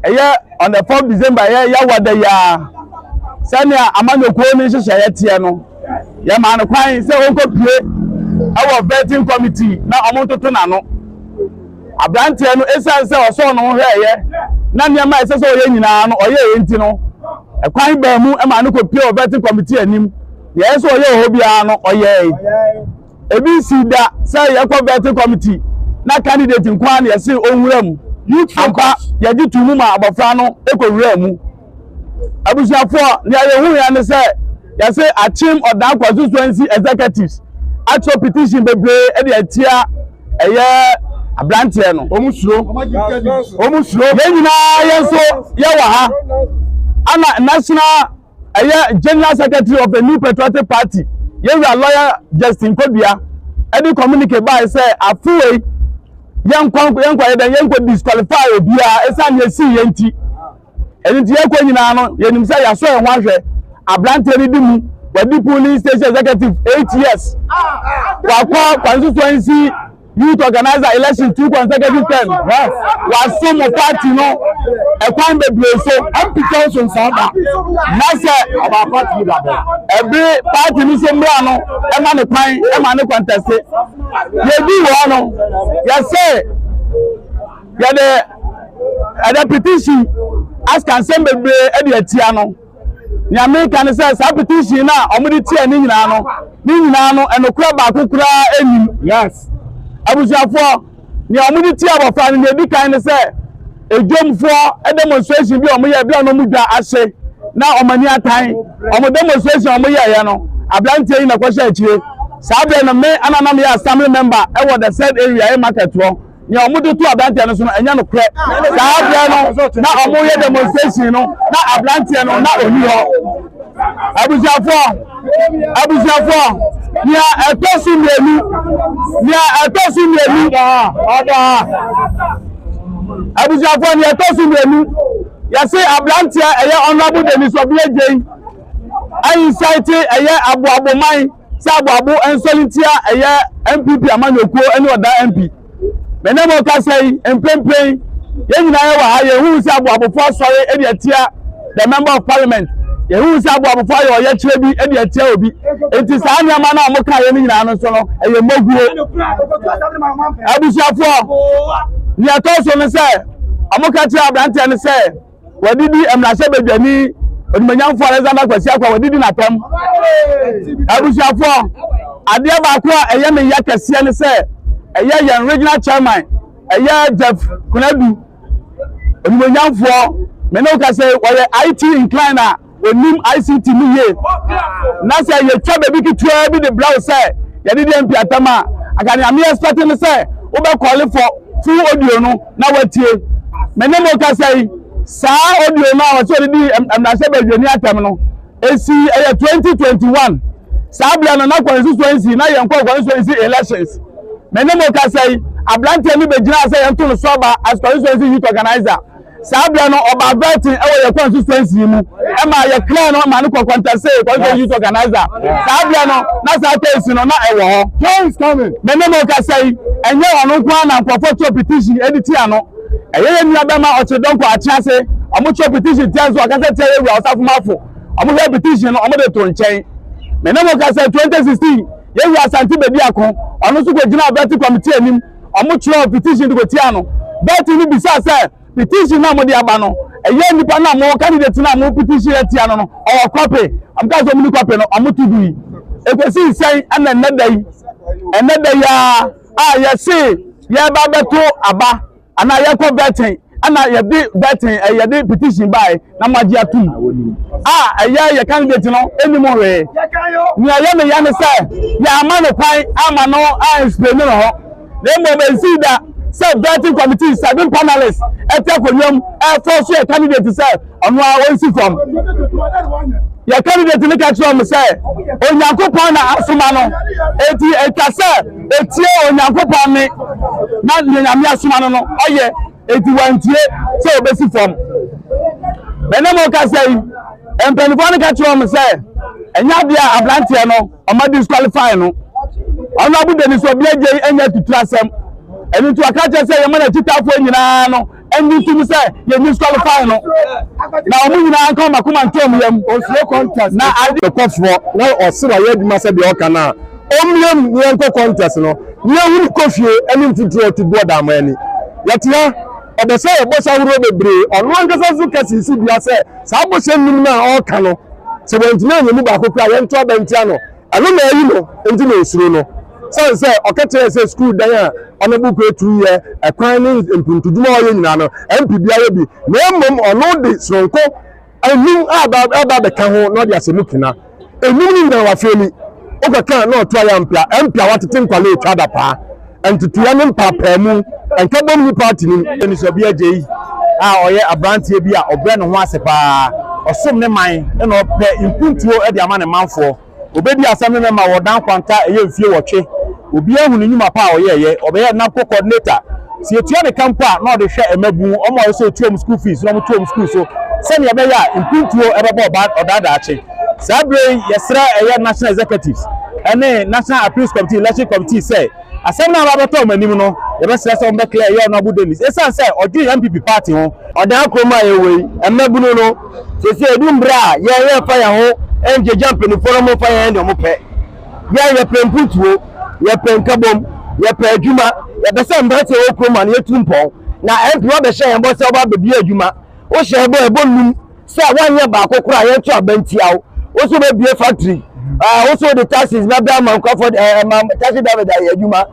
ɛyɛ on the fourth december ɛyɛ yawada yi ara sɛnea amanyɔkuo no nhyehyɛeɛ teɛ no yɛmaa no kwan sɛ wɔnkɔpue ɛwɔ vetting committee na wɔn ntoto n'ano aberanteɛ no esiane sɛ ɔsɔɔ no ho hwɛɛyɛ na nneɛma a ɛsɛ sɛ ɔyɛ nyinaa no ɔyɛ yɛn ti no ɛkwan baa mu ɛmaa no kɔpue wɔ vetting committee anim deɛ ɛsɛ ɔyɛ wɔ hɔ biara no ɔyɛe Ebi nsii da sɛ yɛkɔ vetting committee na candidate nko ara na yɛse ɔnwura mu. Youth focus. Ampa, yɛgye too mu ma abɔfra no kɔwuraa mu. Abusuafoɔ, nea yɛhuiɛ ne sɛ yɛse Akyem Ɔdan constituency executives atwerɛ petition bebree de atia ɛyɛ abranteɛ no. Wɔn suro. Wɔn suro. Yɛn nyinaa yɛn nso yɛwɔ ha. Ana national ɛyɛ general secretary of the new patriotic party yɛwura lɔya justin kodua ɛde communique bae sɛ afewei yɛnkɔ yɛnkɔ yɛ dɛn yɛnkɔ disqualify obiara ɛsan yɛ si yɛn ti ɛne ti yɛkɔ nyinaa no yɛnim sɛ yɛasɔ yɛn ho ahwɛ aberanteɛ no di mu wadi polling station executive eight years wakɔ constituency. Youth organizer election two consecutive term waso mo party no ɛkwan bebree so. MP sɛ nso nsa da na sɛ ɔba party da bɛ. Ɛbi party ni so mmira no ɛma ne kwan ɛma ne kɔntɛse. Yɛdi wɔ no yɛsɛ yɛde ɛde petition asikansɛm bebree ɛde atia no. Nea mereka ne sɛ saa petition no a wɔde tia ne nyinaa no, ne nyinaa no ɛnokorɛ baako koraa nnim. Yes. Abusuafoɔ, nea wɔde tia abɔfra no nea ɛdi kan ne sɛ edwomfoɔ demonstration bi a wɔyɛ bi a na wɔn dwa ahye na wɔn ani atan wɔn demonstration a wɔyɛeɛ no aberanteɛ yi na ɛkɔhyɛ akyire saa berɛ no me ananam yɛ assembly member ɛwɔ the said area yɛ market hɔ nea wɔde to aberanteɛ no so no ɛnyɛ nokorɛ saa berɛ no na wɔyɛ demonstration no na aberanteɛ no na ɔni hɔ abusuafoɔ abusuafoɔ nea ɛtɔ so mmienu nea ɛtɔ so mmienu abusuafoɔ nea ɛtɔ so mmienu yɛse aberanteɛ ɛyɛ honorable denis ɔbea gyei ayi sɛ te ɛyɛ aboaboman sɛ aboabo nsɔre nti a ɛyɛ npp amanyɔkuo ne ɔdaa mp me ne mo kasa yi mprempren yɛn nyinaa yɛwɔ ha yɛhu sɛ aboabofoɔ asɔre de atia the member of parliament yɛhu sɛ aboabofoɔ ayɛ ɔyɛkyerɛ bi de atia obi nti saa nneɛma no a wɔka yɛ no nyinaa no nso no ɛyɛ mmoguo abusuafoɔ nea ɛtɔ so no sɛ wɔka kyerɛ aberanteɛ no sɛ Wɔadidi mmarahyɛbadwani onimonyamfo Alexander Kwasi Akwa wɔadidi n'atɛm. Abusuafoɔ, adeɛ baako a ɛyɛ me ya kɛseɛ ne sɛ ɛyɛ yɛn regional chairman ɛyɛ Jeff Kunadu onimonyamfoɔ me ne wo ka sɛ wɔyɛ IT incline a Wɔnim ICT mu yie. Na sɛ yɛtwa baabi ketewa bi de brɛ wo sɛ yɛde deɛ mpiatam a, anka nea me expect ne sɛ wobɛkɔle for full audio no na woatie. Me ne mo kasa yi, saa audio no a wɔsɛ wɔde di mmarahyɛ badwani atɛm no, ɛsi ɛyɛ 2021. Saa berɛ no na constituency na yɛn kɔ constituency elections. Me ne mo kasa yi, aberanteɛ no bɛgyinaa sɛ yɛnto no so aba as constituency youth organizer. Saa berɛ no, ɔbaa Burton wɔ yɛn kwan so sɛnsi yi mu ma yɛkraa no ma no kɔ Kwantase Constituent Youth Organizer. Saa berɛ no, na saa kɛnsi no na ɛwɔ hɔ. Me ne mo kasa yi, ɛnyɛ ɔno nko ara na nkurɔfoɔ twerɛ petition de tia no. Ɛyɛ yɛn nua bɛma ɔkyere dɔnkɔ Akyerɛase, wɔn twerɛ petition tia nso ɔkasa tia yɛn wura Ɔsafo Mafo. Wɔn hwɛ petition no, wɔn de to nkyɛn. Me ne mo kasa 2016, yɛn wura Asante Bediako, ɔno nso kɔgyinaa Burton Committee anim Ɔmo kyerɛw petition de kotia no. Bertie no bisaa sɛ, Petition no a mode aba no, ɛyɛ nnipa no a mo candidate no a mo petition atia no no, ɔwɔ kwape? Ɔmo kaa sɛ ɔmo ni kwape no, ɔmo to gui. Ekosii sɛn ɛna ɛnnɛ da yi, ɛnnɛ da yi ara a yɛse yɛreba abɛto aba anaa yɛkɔ Bertie, ɛna yɛde bɛten ɛyɛ eh, de petition bae na mo agye atum a ɛyɛ yɛ candidate no ɛni mo hwee nea ɛyɛ ne yɛ ne sɛ yɛama no kwan ama no a explain no hɔ na mmom ɛnsi da sɛ vetting committee seven panelists ɛte akonnwa mu ɛfɔ so yɛ candidate sɛ ɔno a ɔnsi fam yɛ candidate no ka kyerɛ ɔmo sɛ onyankopɔn na asoma no eti etwa sɛ etie onyankopɔn ne na nea nyame asoma no no ɔyɛ eti wantie sɛ obesi fam ɛnna mo kasa yi mpanimfoɔ no ka kyerɛ ɔmo sɛ ɛnyɛ adeɛ a aberanteɛ no ɔmo disqualify no ɔno abodani so obi agye anya tutu asɛm ɛno nti ɔka kyerɛ sɛ yɛma n'akyitaafoɔ nyinaa no ɛnyi nto mu sɛ yɛn disqualify no na wɔn nyinaa nka wɔn akoma ntam yam osuro contest na ade kɔfoɔ na ɔsi wa yɛ adwuma sɛ deɛ ɔka na ɔmmiem ne yɛn kɔ contest no ne yɛn huru kɔ fie ɛne mfuturo ɔte bu ɔda ama ani yɛte ha ɔbɛ sɛ yɛ bɔhyɛ ahorow bebree ɔno ankasa nso kɛse si dua sɛ saa bɔhyɛ nnum na ɔka no sɛ wɔntumi anyɛ mu baako kura yɛn to abɛntia no Ɛno na eyi no nti na osuro no, sane sɛ ɔka kyerɛɛ sɛ sukuu dan a ɔne Bokue tu yɛ, ɛkwan ne mpuntudwuma a ɔyɛ nyinaa no, ɛmpe biara bi, na mmom ɔno de soronko anum a ɛba bɛka ho na ɔde ahyɛ mu kena. Enum no nyinaa wafeeli, wokɔka na ɔto ayɛ ampea, ɛmpea watete nkwale etwa adapaa. nteteeɛ ne mpaapaamu nkabom ne paati no mu. Anisoabi Agyei a ɔyɛ aberanteɛ bi a ɔbrɛ ne ho ase pa ara, ɔsom ne man na ɔpɛ mpuntuo de ama ne manfoɔ. Ɔbɛdii asɛm no nnɛ ma wɔ Dan Kwanta ɛyɛ mfie nwɔtwe. Obiara ahu ne nnwuma pa a ɔyɛeɛ, ɔbɛyɛɛ NABCO Coordinator. Sɛ yɛtua ne ka mpo a, na ɔde hwɛ mmabunu, wɔn a ɔsɛ sɛ ɔtua wɔn school fees na wɔto wɔn school so sɛdeɛ ɛbɛyɛ a mpuntuo bɛbɔ ɔbaa ɔdaa daakye. Saa bere yi yɛsrɛ ɛyɛ National Executives ne National Appeals Committee Election Committee sɛ asɛm no a aba abɛtɔ wɔn anim no yɛbɛsrɛ sɛ wɔbɛclear ɛyɛ Ɔnoabu Dennis esiane sɛ ɔdwen MPP party ho. Ɔdan kurom a yɛwɔ yi, mmabunu no, seesei edu bere a yɛn yɛmfa yɛn ho ngyagya mpanyimfo no mmfa yɛnyɛ nea wɔpɛ. Yɛn yɛpɛ mpuntuo, yɛpɛ nkabom, yɛpɛ adwuma, yɛpɛ sɛ mmeranteɛ a wɔwɔ kurom ha no yɛtu mpɔn. Na MP woabɛhyɛ yɛn bɔ sɛ wobɛba abɛbue adwuma, wohyɛ yɛn bɔ ɛbɔ nnum. sɛ woanyɛ baako koraa yɛnto aba ntia wo wo so wobɛbue factory ah, wo so wode taxes bɛbrɛ ama nkurɔfoɔ eh, eh, ma taxi driver de ayɛ adwuma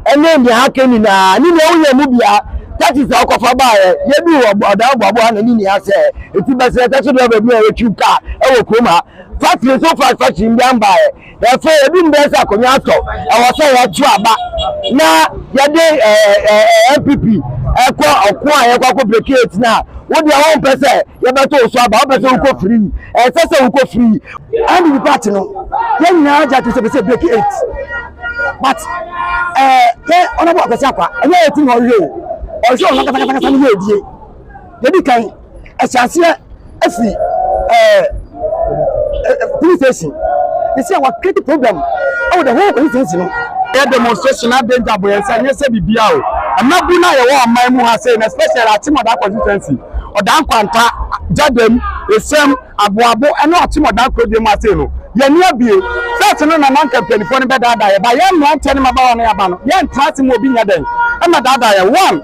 ɛne nea aka nyinaa ne nea woyɛ mu bia taxes a wokɔfa baeɛ yɛdu ɔdan boaboa na ne nea sɛ ɛti bɛsrɛ taxi driver bi a yɛtwi kaa ɛwɔ kurom ha factory so fa factory mbian baeɛ Afei, edu mmerɛ sɛ akonnwa atɔ, ɛwɔ sɛ yɛto aba na yɛde NPP ɛkɔ ɔko a yɛkɔ akɔ breki eti na wo deɛ wɔn mpɛ sɛ yɛbɛto so aba, wɔpɛ sɛ wokɔ firi yi, ɛnsɛ sɛ wokɔ firi yi. NPP party no, yɛn nyinaa gye atom sɛ ɛbɛsɛ breki eight, but ɛɛ yɛ ɔnabɔ Akwasi Akwa, ɛnyɛ eight na ɔhwɛ o, ɔhwɛ ɔno ankasa ankasa ne yɛ edie, yɛdi kan. ɛhyɛ aseɛ firi ɛɛ police station ne sɛ wɔakreti problem ɛwɔ the whole constituency no. ɛyɛ demonstration na danger bɔ yɛn sɛ nyɛ sɛ biribiara o mmabun no a yɛwɔ ɔman mu ha sɛ na especially akyemɔda constituency ɔdan kwanta gyadam esɛm Aboabo ne ɔtemɔdan kurodua mu asɛe no, yɛn ani abue. First no na na anka mpanyinfoɔ no bɛdaadaa yɛn, but yɛn mmeranteɛ ne mmabaawa no yɛaba no, yɛntena ase ma obi nyɛ dɛn mmɛdaadaa yɛn. One,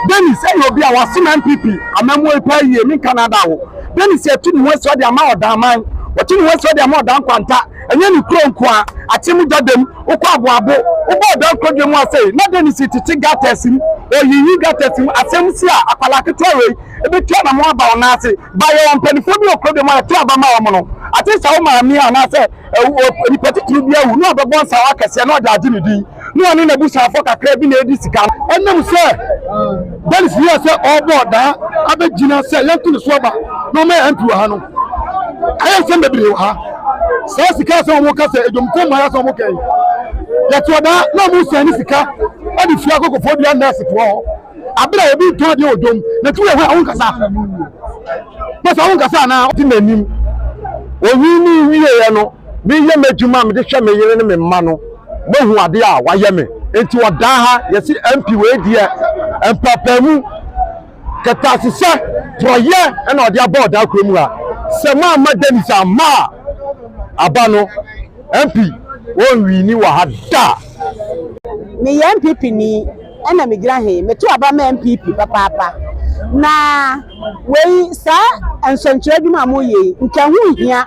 Dennis yɛ obi a wasom NPP amammuo yi paa yie, menka no ada wo. Dennis atu ne ho asi hɔ de ama Ɔdaaman, watu ne ho asi hɔ de ama Ɔdan Kwanta, ɛnyɛ ne kuro nko ara, Akyem Gyadim, wokɔ Aboabo, wobɔ Ɔdan kurodua mu asɛe, na Dennis tete gutters mu, ɔyiyi gutters mu, asɛm si a, akwadaa ketewa wei. Ebetu anammɔn aba wo nan ase. Ba yɛ wɔn mpanimfoɔ ne okurobeɛ mu a ɛto aba ma wɔn no. Agye sɛ wo maame anaasɛ onipa titiriw bi awu na ɔbɛbɔ nsawa akɛseɛ na ɔde agye ne din, na ɔne n'abusuafoɔ kakraa bi na edi sika no. Ɛnam sɛ Dennis yɛɛ sɛ ɔrebɔ daa abegyina sɛ yɛnto ne so aba na ɔma yɛn MP wɔ ha no, ayɛ nsɛm bebree wɔ ha. Saa sika a sɛ wɔka sɛ adwamfoɔ mmaeɛ a sɛ wɔka yi, yɛtoɔ daa na wɔsan ne sika de firi akokofoɔ dua nɛɛsefoɔ hɔ. Abere a obi tɔn adeɛ wɔ dwom na ti wɔ hɔ a ɔho nkasa. Pɛsɛ ɔho nkasa anaa ɔte n'anim. Onyin ne wieɛ no meyɛ m'adwuma a mede hwɛ me yere ne me mma no mahu adeɛ a wayɛ me nti ɔdaa ha yɛse MP wei deɛ mpaapaemu kɛtɛasesɛ porɔyɛ ɛna ɔde aba ɔdaa kuro mu ha sɛ moamma Dennis amma a aba no MP wɔnwini wɔ ha da. Meyɛ NPP ni ɛna megyina he. Meto aba ma NPP papaapa. Na wei saa nsɛnkyerɛ adwuma a moyɛ yi, nka ɛho nhia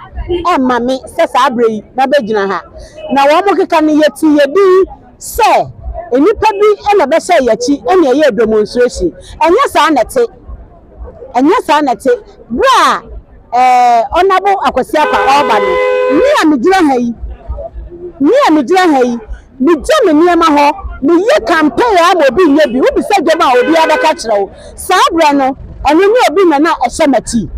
ɛmma me sɛ saa berɛ yi mɛbɛgyina ha. Na wɔn keka no yɛti yɛ din sɛ nnipa bi na ɛbɛhyɛ yɛn akyi na ɛyɛ demonstration. Ɛnyɛ saa na ɛte. Ɛnyɛ saa na ɛte. Berɛ a Honourable Akwasi Appa ɔreba no, me a megyina ha yi, me a megyina ha yi, megya me nneɛma hɔ, meyɛ campaign ara ma obi nyɛ bi. Wobisa dwam a, obiara bɛka akyerɛ wo. Saa berɛ no, ɛno ne obi na na ɛhyɛ m'akyi.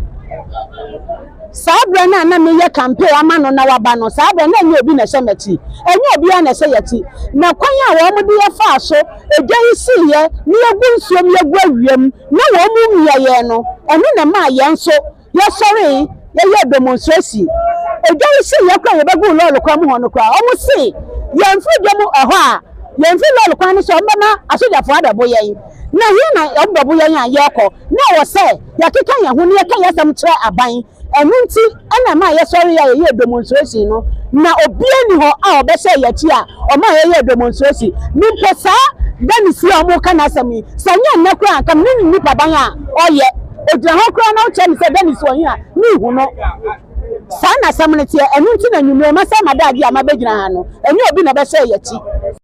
Saa berɛ no a na meyɛ campaign ama no na waba no, saa berɛ no na ɛnyɛ obi na ɛhyɛ m'akyi. Ɛnyɛ obiara na ɛhyɛ yɛn akyi. Na kwan a wɔde yɛfaa so, egya yi siiɛ, na yɛgu nsuom, yɛgu awiam, na wɔn mu mmea yɛn no, ɛno na ɛmaa yɛn nso yɛsɔree yɛyɛɛ demonstration. Edwa yi hyee yɛn koraa a yɛbɛguu lɔre kwan mu hɔ no koraa, wɔsee yɛn mfiri dwam ɛhɔ a yɛmfiri lɔre kwan no so a wɔbɛma asogyafoɔ abɛbo yɛn. Na he na wɔbɛbo yɛn a yɛrekɔ? Na ɛwɔ sɛ yɛkeka yɛn ho na yɛka yɛn asɛm kyerɛ aban Ɛno nti na ɛmaa yɛsɔree a yɛyɛɛ demonstration no, na obiara nni hɔ a ɔbɛhyɛɛ yɛn akyi a ɔmaa yɛyɛɛ demonstration. Me mpo saa Dennis yi a wɔreka n'asɛm yi, sɛ ɛnyɛ nnɛ koraa a anka menim nipaban a ɔyɛ. Ɔgyina hɔ koraa na wokyerɛ me sɛ Dennis wɔ he a, menhu no. Saa na asɛm no teɛ. Ɛno nti na anwummere yi, masɛe m'adagyeɛ a mabɛgyina ha no. Ɛnyɛ obi na ɛbɛhyɛɛ yɛn akyi.